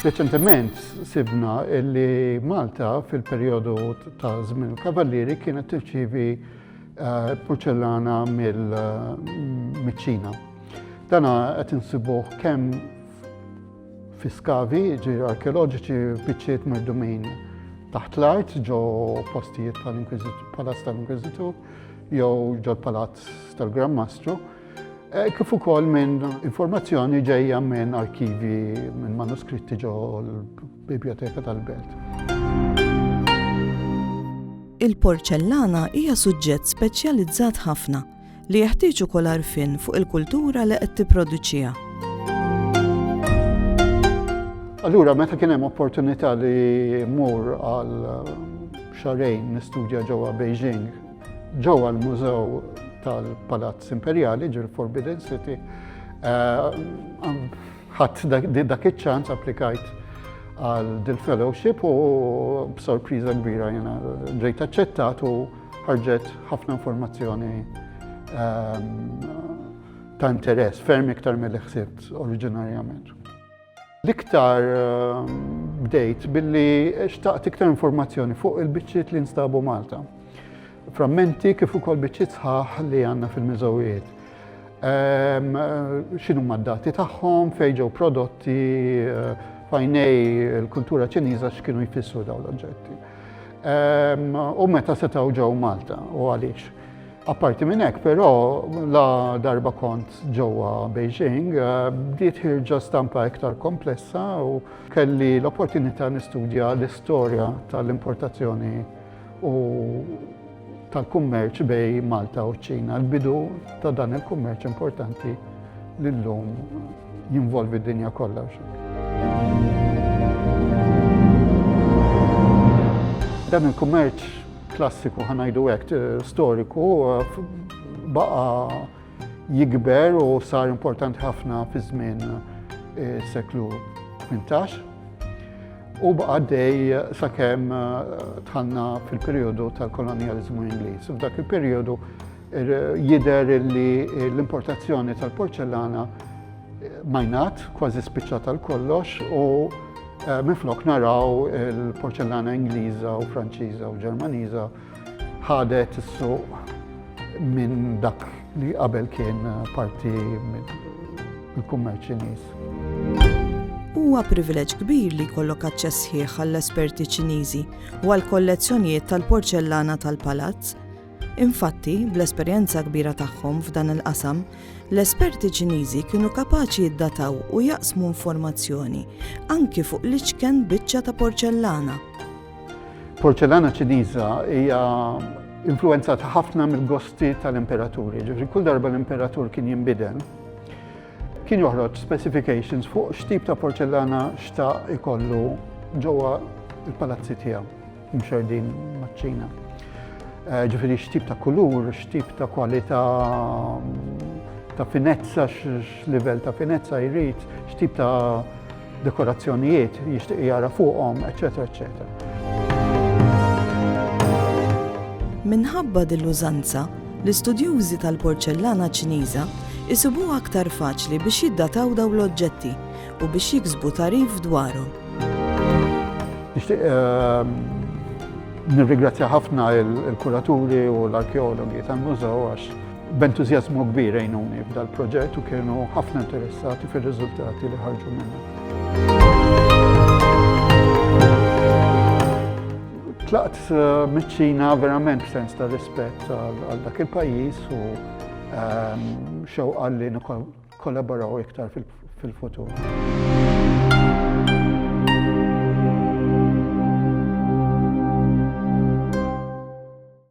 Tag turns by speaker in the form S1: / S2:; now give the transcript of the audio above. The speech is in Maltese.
S1: Reċentement sibna li Malta fil-perjodu ta' żmien kavallieri kienet tirċivi eh, porċellana mill-ċina. Dana qed insibuh kemm fi skavi, ġi arkeoloġiċi biċċiet merdumin taħt l-art ġo postijiet tal-Inkwizitur, palazz tal-Inkwizitur, jew ġo palazz tal-Gran Mastru. Eh, kif ukoll minn informazzjoni ġejja minn arkivi minn manuskritti ġo l-Biblioteka tal-Belt.
S2: Il-porċellana hija suġġett speċjalizzat ħafna li jeħtieġ ukoll arfin fuq il-kultura li qed tipproduċiha.
S1: Allura, meta kien hemm opportunità li mur għal xarejn nistudja ġewwa Beijing Ġewwa l-Mużew tal-Palazz Imperjali ġil Forbidden City eh, ħadd dak iċ-ċans applikajt għal dil-fellowship u b'sorpriża kbira jena ġejt aċċettat u ħarġet ħafna informazzjoni ehm, ta' interess, ferm iktar mill-ħsibt oriġinarjament. L-iktar bdejt billi xtaqt iktar informazzjoni fuq il-biċċiet li nstabu Malta. Frammenti kif ukoll biċċiet sħaħ li għandna fil-miżowijiet. Ehm, xinu ma dati tagħhom, fejġew prodotti, eh, fajnej il-kultura ċiniża x'kienu jfissru dawn l-oġġetti. Ehm, u meta setgħu ġew Malta u għaliex. Apparti minn hekk però la darba kont ġewwa Beijing eh, bdiet ħirġa stampa iktar komplessa u kelli l-opportunità nistudja l-istorja tal-importazzjoni u tal-kummerċ bej Malta u ċina l-bidu ta' dan il-kummerċ importanti li llum jinvolvi d-dinja kollha. Dan il-kummerċ klassiku ħa ngħidu hekk storiku baqa' jikber u sar importanti ħafna fi żmien eh, seklu 18 u baqa' dej sakemm eh, tħanna fil-perjodu tal-kolonjaliżmu Ingliż. F'dak il-perjodu Jidher li l-importazzjoni tal-porċellana majnat kważi spiċċat għal kollox u Eh, minflok naraw il-porċellana Ingliża u Franċiża u Ġermaniża ħadet is-suq minn dak li qabel kien parti mill-kummerċ Ċiniż.
S2: Huwa privileġġ kbir li jkollok aċċess ħieħ għall-esperti Ċiniżi u għall-kollezzjonijiet tal-porċellana tal-palazz Infatti, bl-esperjenza kbira tagħhom f'dan il-qasam, l-esperti Ċiniżi kienu kapaċi jiddataw u jaqsmu informazzjoni anki fuq l-iċken biċċa ta' porċellana.
S1: Porċellana Ċiniża hija influenzata ħafna mill-gosti tal-imperaturi. Ġifri, kull darba l-imperatur kien jinbidel, kien joħroġ specifications fuq x'tip ta' porċellana xta' ikollu ġewwa il-palazzi tiegħu. Imxerdin maċ-Ċina. Eh, ġifieri x'tip ta' kulur, x'tip ta' kwalità ta' finezza, x'livell ta' finezza jrid, x'tip ta' dekorazzjonijiet jixtieq jara fuqhom, eċetera, eċetera.
S2: Minħabba dil-użanza, l-istudjużi tal-porċellana Ċiniża jsibuha aktar faċli biex jiddataw daw l-oġġetti u biex jiksbu tagħrif dwarhom.
S1: Nixtieq ehm, nirrigrazzja ħafna il-kuraturi u l-arkeologi tal-mużew għax b'entużjażmu kbir għajnuni f'dal-proġett u kienu ħafna interessati fir-riżultati li ħarġu minna. tlaqt eh, miċ-Ċina verament b'sens ta' rispett għal dak il-pajjiż u ehm, xewqa li kollaboraw iktar fil-futur.